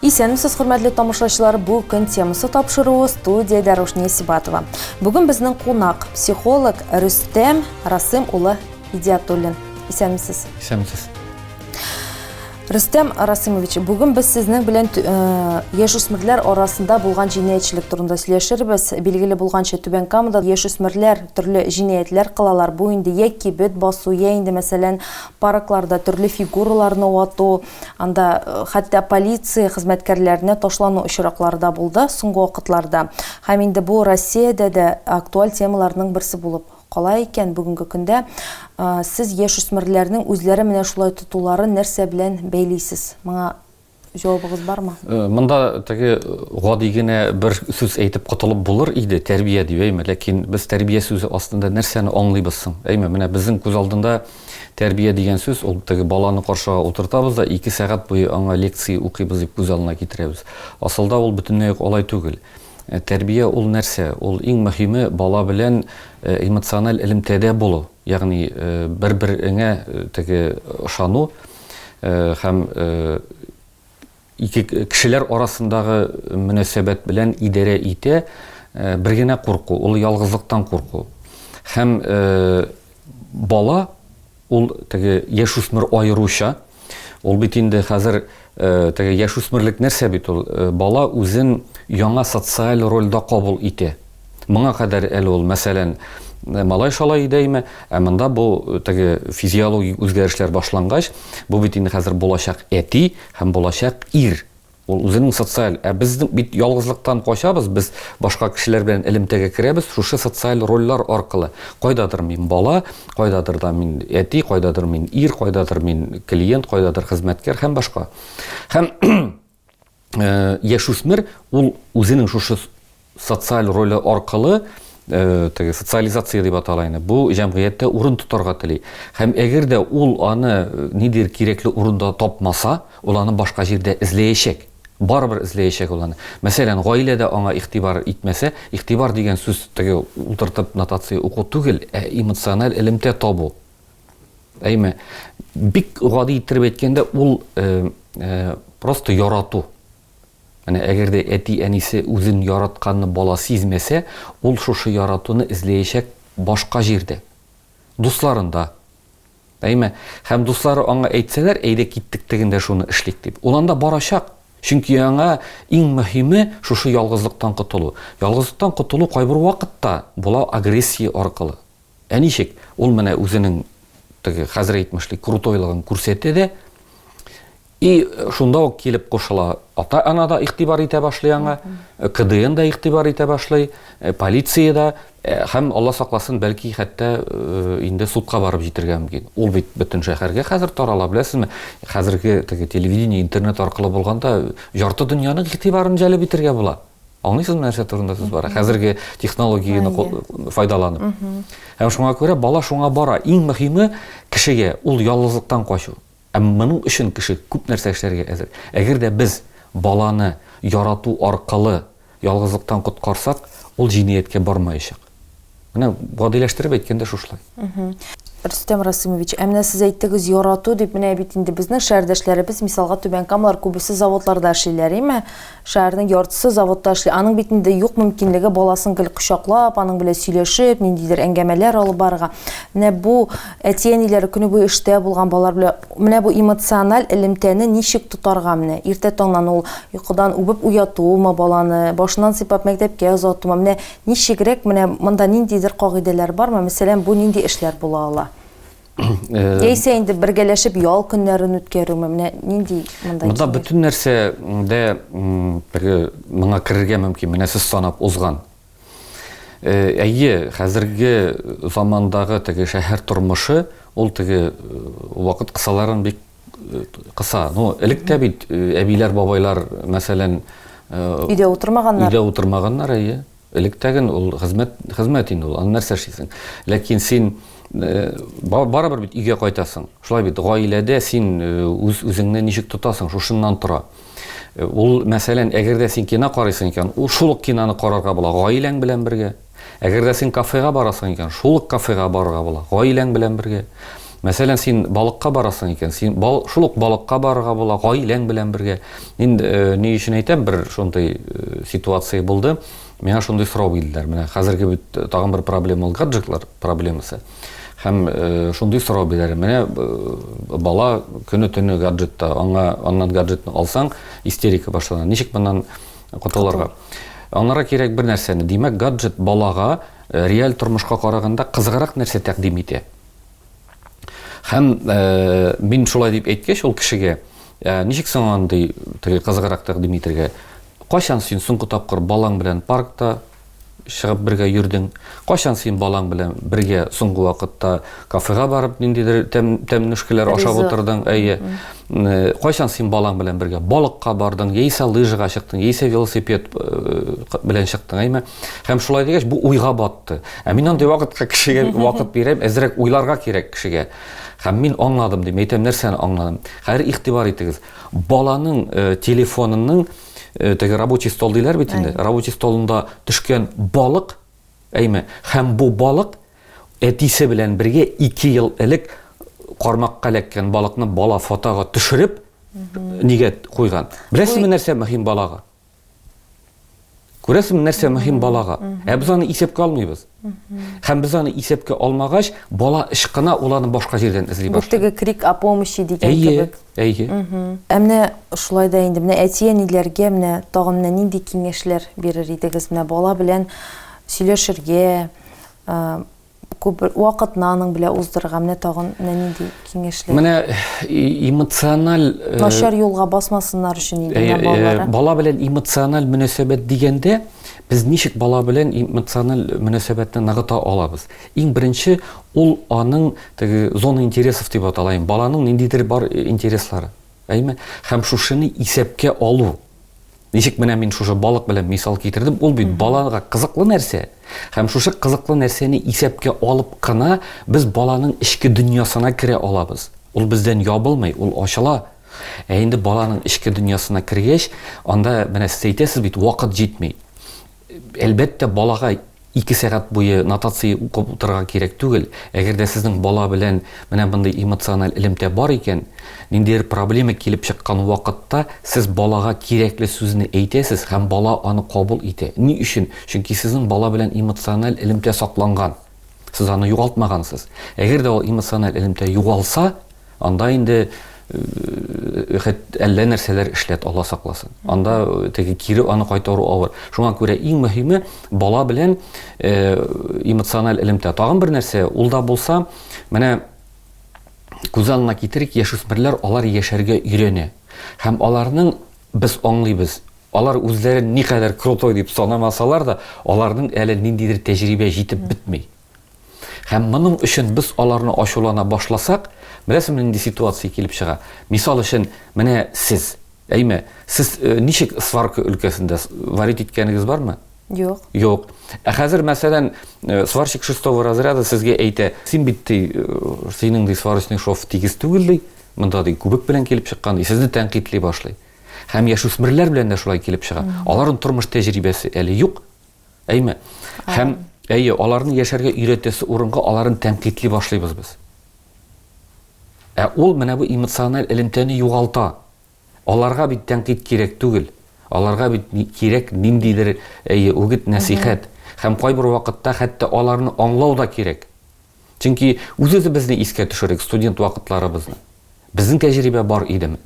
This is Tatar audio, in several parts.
Исәнмесез, хөрмәтле тамашачылар! Бу көн темасы тапшыруы студиядә Рушния Сибатова. Бүген безнең кунак, психолог Рөстәм Расым улы Идиатуллин. Исәнмесез. Исәнмесез. Рөстәм Расымович, бүген без сезнең белән э, яшүсмерләр арасында булган җинаятьчелек турында сөйләшербез. Билгеле булганча, Түбән Камада яшүсмерләр төрле җинаятьләр кылалар. Бу инде йә кибет басу, йә инде мәсәлән паркларда төрле фигураларны вату, Анда хәтта полиция хезмәткәрләренә ташлану очраклары да булды соңгы вакытларда. Һәм инде бу Россиядә дә актуаль темаларның берсе булып кала икән бүгенге көндә. Сез яшь үсмерләрнең үзләре менә шулай тотуларын нәрсә белән бәйлисез? Моңа җавабыгыз бармы? Э, монда теге э, гади генә бер сүз әйтеп котылып булыр иде, тәрбия дип, әйме, ләкин без тәрбия сүзе астында нәрсәне аңлыйбыз соң? Әйме, менә безнең күз алдында Тәрбия дигән сүз, ул теге баланы каршыга утыртабыз да, ике сәгать буе аңа лекция укыйбыз дип күз алдына китерәбез. Асылда ул бөтенләй үк алай түгел. Тәрбия ул нәрсә? Ул иң мөһиме бала белән эмоциональ элемтәдә булу, ягъни бер-береңә теге ышану һәм Ике кешеләр арасындагы мөнәсәбәт белән идарә итә бер генә курку, ул ялгызлыктан курку. Һәм бала, ул теге яшүсмер аеруча, ул бит инде хәзер теге яшүсмерлек нәрсә бит ул? Бала үзен яңа социаль рольдә кабул итә. Моңа кадәр әле ул, мәсәлән, малай-шалай иде әйме, ә монда бу теге физиологик үзгәрешләр башлангач, бу бит инде хәзер булачак әти һәм булачак ир. Ул үзенең социаль, ә без бит ялгызлыктан качабыз, без башка кешеләр белән элемтәгә керәбез шушы социаль рольләр аркылы. Кайдадыр мин бала, кайдадыр да мин әти, кайдадыр мин ир, кайдадыр мин клиент, кайдадыр хезмәткәр һәм башка. Һәм э, яшүсмер ул үзенең шушы социаль роле аркылы э, теге социализация дип атала инде бу җәмгыятьтә урын тотарга тели һәм әгәр дә ул аны э, нидер кирәкле урында тапмаса ул аны башка җирдә эзләячәк барыбер эзләячәк ул аны мәсәлән гаиләдә аңа игътибар итмәсә игътибар дигән сүз теге утыртып нотация уку түгел ә эмоциональ элемтә табу Әйме, бик гади иттереп әйткәндә, ул э, э, просто ярату. Менә әгәр дә әти-әнисе үзен яратканны бала сизмәсә, ул шушы яратуны эзләячәк башка җирдә. Дусларында. Әйме, һәм дуслары аңа әйтсәләр, әйдә киттек тегендә шуны эшлик дип. Ул анда барачак. Чөнки аңа иң мөһиме шушы ялгызлыктан котылу. Ялгызлыктан котылу кайбер вакытта була агрессия аркылы. Ә ничек? Ул менә үзенең теге хәзер әйтмешли крутойлыгын күрсәтә дә, и шунда ук килеп кушыла. Ата-ана да игътибар итә башлый аңа, КДН да игътибар итә башлый, э, полиция да э, һәм Алла сакласын, бәлки хәтта э, инде судка барып җитергә мөмкин. Ул бит бөтен шәһәргә хәзер тарала, беләсезме? Хәзерге теге телевидение, интернет аркылы булганда жарты дөньяның игътибарын җәлеп итергә була. Аңлыйсызмы нәрсә турында сүз бара? Хәзерге технологияне файдаланып. Һәм шуңа күрә бала шуңа бара. Иң мөһиме кешегә ул ялгызлыктан качу. Ә моның өчен кеше күп нәрсә эшләргә әзер. Әгәр дә без баланы ярату аркылы ялгызлыктан коткарсак, ул җинияткә бармаячак. Менә гадиләштереп әйткәндә шушлай. Рөстәм Расимович, ә менә сез әйттегез ярату дип, менә бит инде безнең шәһәрдәшләребез, мисалга Түбән Камалар күбесе заводларда эшлиләр, име? Шәһәрнең яртысы заводта эшли. Аның бит инде юк мөмкинлеге баласын гел кочаклап, аның белән сөйләшеп, ниндидер әңгәмәләр алып барырга. Менә бу әти-әниләр көне буе эштә булган балалар белән менә бу эмоциональ элемтәне ничек тотарга менә? Иртә таңнан ул йокыдан үбеп уятуымы баланы, башыннан сыйпап мәктәпкә озатуымы? Менә Ничегрәк, менә монда ниндидер кагыйдәләр бармы? Мәсәлән, бу нинди эшләр була ала? Яисә инде бергәләшеп ял көннәрен үткәрүме? Менә нинди монда? Монда бөтен нәрсә дә бергә моңа керергә мөмкин. Менә сез санап узган. Әйе, хәзерге замандагы теге шәһәр тормышы, ул теге вакыт кысаларын бик кыса. Ну, элек тә бит э, әбиләр, бабайлар, мәсәлән, э, өйдә утырмаганнар. Өйдә утырмаганнар, әйе. Элек тәген ул хезмәт, хезмәт инде ул. Аны нәрсә эшлисең? Ләкин син э, барыбер бит өйгә кайтасың. Шулай бит, гаиләдә син үз үзеңне ничек тотасың, шушыннан тора. Ул, мәсәлән, әгәр дә син кино карыйсың икән, ул шул ук киноны карарга була, гаиләң белән бергә. Әгәр дә син кафега барасың икән, шул ук кафега барырга була, гаиләң белән бергә. Мәсәлән, син балыкка барасың икән, син бал, шул ук балыкка барырга була, гаиләң белән бергә. Мин э, ни өчен әйтәм, бер шундый э, ситуация булды. Миңа шундый сорау бирделәр. Менә хәзерге бит э, тагын бер проблема ул гаджетлар проблемасы. Һәм э, шундый сорау бирәләр. Менә э, бала көне-төне гаджетта, аңа аннан гаджетны алсаң, истерика башлана. Ничек моннан Котылырга. Аннары кирәк бер нәрсәне. Димәк, гаджет балага э, реаль тормышка караганда кызыграк нәрсә тәкъдим итә. Һәм э, мин шулай дип әйткәч, ул кешегә э, ничек соң андый теге кызыграк тәкъдим итергә? Кайчан син соңгы тапкыр балаң белән паркта, чыгып бергә йөрдең. Кайчан син балаң белән бергә соңгы вакытта кафега барып ниндидер тәм, тәмнүшкәләр ашап Ризык. утырдың? Әйе. Э, Кайчан син балаң белән бергә балыкка бардың, яисә лыжага чыктың, яисә велосипед э, к- белән чыктың, әйме? Һәм шулай дигәч, бу уйга батты. Ә мин андый вакытка кешегә вакыт бирәм, әзрәк уйларга кирәк кешегә. Һәм мин аңладым, дим, әйтәм, нәрсәне аңладым? Хәзер игътибар итегез. Баланың э, телефонының э, теге рабочий стол диләр бит инде рабочий столында төшкән балык әйме һәм бу балык әтисе белән бергә ике ел элек кармакка эләккән балыкны бала фотога төшереп нигә куйган беләсезме нәрсә мөһим балага күрәсезме нәрсә мөһим балага ә без аны исәпкә алмыйбыз Һәм без аны исәпкә алмагач, бала ышкына, ул аны башка җирдән эзли башлый. Бу теге крик о помощи дигән кебек. Әйе, әйе. Ә менә шулай да инде, менә әти-әниләргә менә тагын менә нинди киңәшләр бирер идегез? Менә бала белән сөйләшергә, күп вакытны аның белән уздырырга, менә тагын менә нинди киңәшләр? Менә эмоциональ э, начар юлга басмасыннар өчен инде э, балалар. Бала белән эмоциональ мөнәсәбәт дигәндә без ничек бала белән эмоциональ мөнәсәбәтне ныгыта алабыз? Иң беренче ул аның теге зона интересов дип атала, баланың ниндидер бар интереслары. Әйме? Һәм шушыны исәпкә алу. Ничек менә мин шушы балык белән мисал китердем, ул бит балага кызыклы нәрсә. Һәм шушы кызыклы нәрсәне исәпкә алып кына без баланың эчке дөньясына керә алабыз. Ул бездән ябылмый, ул ачыла. Ә инде баланың эчке дөньясына кергәч, анда, менә сез әйтәсез бит, вакыт җитми. Әлбәттә, балага ике сәгать буе нотация укып утырырга кирәк түгел. Әгәр дә сезнең бала белән менә мондый эмоциональ элемтә бар икән, ниндидер проблема килеп чыккан вакытта сез балага кирәкле сүзне әйтәсез һәм бала аны кабул итә. Ни өчен? Чөнки сезнең бала белән эмоциональ элемтә сакланган. Сез аны югалтмагансыз. Әгәр дә ул эмоциональ элемтә югалса, анда инде э, хәт әллә нәрсәләр эшләт, Алла сакласын. Анда э, теге кире аны кайтару авыр. Шуңа күрә иң мөһиме бала белән э, эмоциональ элемтә. Тагын бер нәрсә, ул да булса, менә күз алдына китерик, яшүсмерләр алар яшәргә өйрәнә. Һәм аларның без аңлыйбыз, Алар үзләрен никадәр крутой дип санамасалар да, аларның әле ниндидер тәҗрибә җитеп бетми. Һәм моның өчен без аларны ачулана башласак, беләсеңме нинди ситуация килеп чыга? Мисал өчен, менә сез, әйме, сез ничек сварка өлкәсендә варить иткәнегез бармы? Юк. Юк. Ә хәзер, мәсәлән, сварщик шестого разряда сезгә әйтә, син бит ди, синең ди сварочный шов тигез түгел ди, монда ди күбек белән килеп чыккан ди, сезне тәнкыйтьли башлый. Һәм яшүсмерләр белән дә шулай килеп чыга. Аларның тормыш тәҗрибәсе әле юк. Әйме? Һәм әйе, аларны яшәргә өйрәтәсе урынга аларын тәнкыйтли башлыйбыз без. Ә ул менә бу эмоциональ элемтәне югалта. Аларга бит тәнкыйть кирәк түгел. Аларга бит кирәк ниндидер әйе, үгет, нәсихәт. Һәм кайбер вакытта хәтта аларны аңлау да кирәк. Чөнки үз-үзебезне искә төшерик, студент вакытларыбызны. Безнең тәҗрибә бар идеме?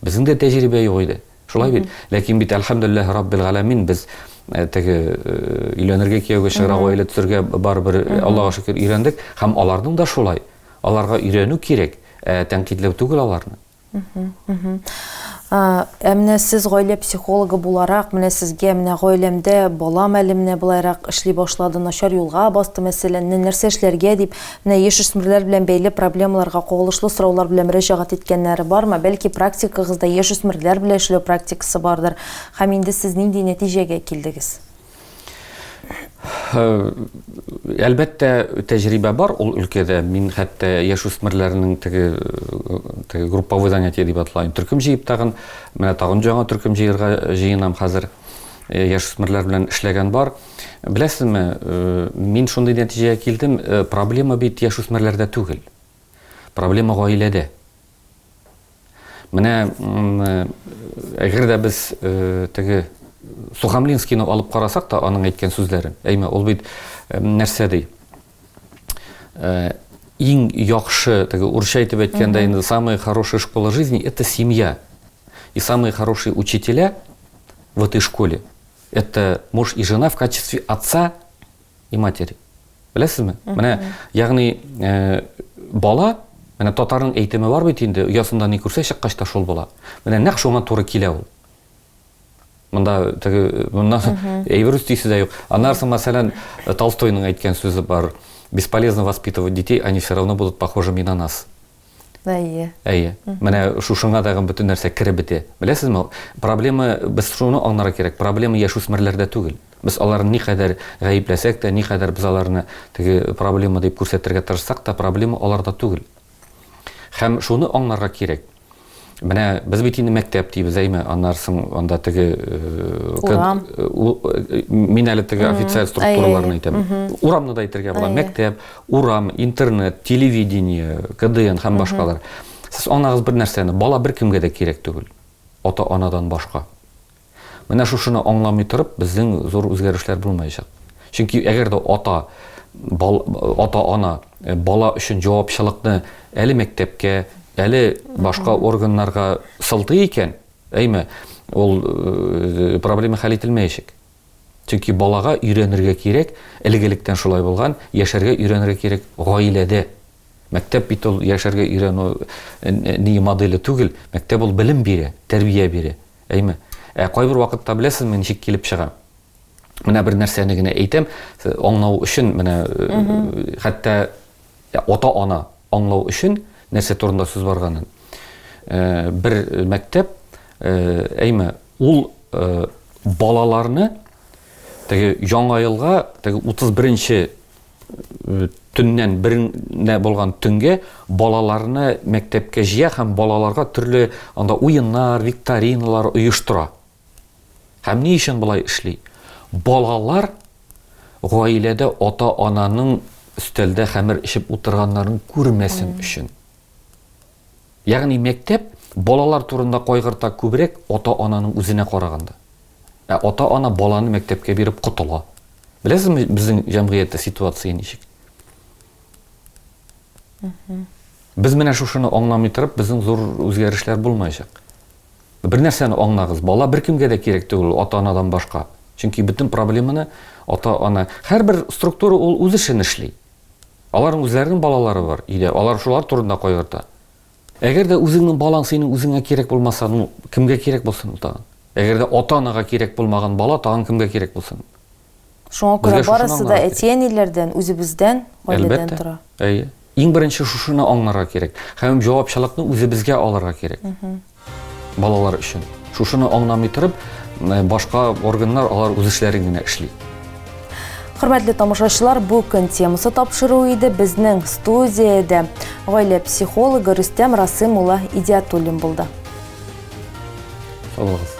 Безнең дә тәҗрибә юк иде. Шулай бит. Ләкин бит әлхәмдүлилләһ раббил галәмин без э, теге э, өйләнергә кияүгә чыгара гаилә төзергә барыбер э, Аллага шөкер өйрәндек һәм аларның да шулай. Аларга өйрәнү кирәк, ә тәнкыйтьләү түгел аларны. Ә менә сез гаилә психологы буларак, менә сезгә менә гаиләмдә балам әле менә былайрак эшли башлады, начар юлга басты мәсәлән, нәрсә эшләргә дип Менә яшүсмерләр белән бәйле проблемаларга кагылышлы сораулар белән мөрәҗәгать иткәннәре бармы? Бәлки практикагызда яшүсмерләр белән эшләү практикасы бардыр? Һәм инде сез нинди нәтиҗәгә килдегез? Әлбәттә, тәҗрибә бар ул өлкәдә. Мин хәтта яшүсмерләрнең теге теге групповой занятие дип атала. Төркем җыеп тагын, менә тагын җаңа төркем җыярга җыенам хәзер. Яшүсмерләр белән эшләгән бар. Беләсезме, мин шундый нәтиҗәгә килдем, проблема бит яшүсмерләрдә түгел. Проблема гаиләдә. Менә әгәр дә без теге Сухомлинскийны алып карасак та аның әйткән сүзләрен, әйме, ул бит нәрсә ди? Иң яхшы, теге урысча әйтеп әйткәндә инде самая хорошая школа жизни это семья. И самые хорошие учителя в этой школе Это муж и жена в качестве отца и матери. Беләсезме? Менә, ягъни, э, бала, менә татарның әйтеме бар бит инде, оясында ни күрсә чыккач та шул була. Менә нәкъ шуңа туры килә ул. Монда теге монда әйбер үстисе дә юк. Аннарсы, мәсәлән, Толстойның әйткән сүзе бар. Бесполезно воспитывать детей, они все равно будут похожими на нас. Әйе. Әйе. Менә шушыңа тагын бөтен нәрсә кереп бетә. Беләсезме, проблема без шуны аңларга кирәк. Проблема яшүсмерләрдә түгел. Без аларны никадәр гаепләсәк тә, никадәр без аларны теге проблема дип күрсәтергә тырышсак та, проблема аларда түгел. Һәм шуны аңларга кирәк. Менә без бит инде мәктәп дибез, әйме, аннары соң анда теге урам. Мин әле теге официаль структураларны әйтәм. Урамны да әйтергә була. Мәктәп, урам, интернет, телевидение, КДН һәм башкалар. Сез анагыз бер нәрсәне, бала бер кемгә дә кирәк түгел. Ата-анадан башка. Менә шушыны аңламый торып, безнең зур үзгәрешләр булмаячак. Чөнки әгәр дә ата, ата-ана бала өчен җавапчылыкны әле мәктәпкә, әле башка органнарга сылтый икән, әйме, ул проблема хәл ителмәячәк. Чөнки балага өйрәнергә кирәк, элек-электән шулай булган, яшәргә өйрәнергә кирәк гаиләдә. Мәктәп бит ул яшәргә өйрәнү ни моделе түгел, мәктәп ул белем бирә, тәрбия бирә. Әйме. Ә кайбер вакытта беләсезме ничек килеп чыга? Менә бер нәрсәне генә әйтәм, аңлау өчен менә хәтта ата-ана аңлау өчен нәрсә турында сүз барганын. Бер мәктәп әйме ул балаларны теге яңа елга теге 31 төннән беренә булган төнгә балаларны мәктәпкә җыя һәм балаларга төрле анда уеннар, викториналар оештыра. Һәм ни өчен болай эшли? Балалар гаиләдә ата-ананың өстәлдә хәмер эчеп утырганнарын күрмәсен өчен. Ягъни мәктәп балалар турында кайгырта күбрәк ата-ананың үзенә караганда. Ә ата-ана баланы мәктәпкә биреп котыла. Беләсезме, безнең җәмгыятьтә ситуация ничек? Без менә шушыны аңламый торып, безнең зур үзгәрешләр булмаячак. Бер нәрсәне аңлагыз, бала беркемгә дә кирәк түгел, ата-анадан башка. Чөнки бөтен проблеманы ата-ана, һәрбер структура ул үз эшен эшли. Аларның үзләренең балалары бар, өйдә алар шулар турында кайгырта. Әгәр дә үзеңнең балаң синең үзеңә кирәк булмаса, ну, кемгә кирәк булсын ул тагын? Әгәр дә ата-анага кирәк булмаган бала тагын кемгә кирәк булсын? Шуңа Безгә күрә шушыны барысы да аңларга кирәк. әти-әниләрдән, үзебездән, гаиләдән Әлбәттә. тора. Әйе. Иң беренче шушыны аңларга кирәк. Һәм җавапчылыкны үзебезгә алырга кирәк. Балалар өчен. Шушыны аңламый торып, м, башка органнар алар үз эшләрен генә эшли. Хөрмәтле тамашачылар, бу көн темасы тапшыру иде безнең студиядә гаилә психологы Рөстәм Расым улы Идиатуллин булды. Салагыз.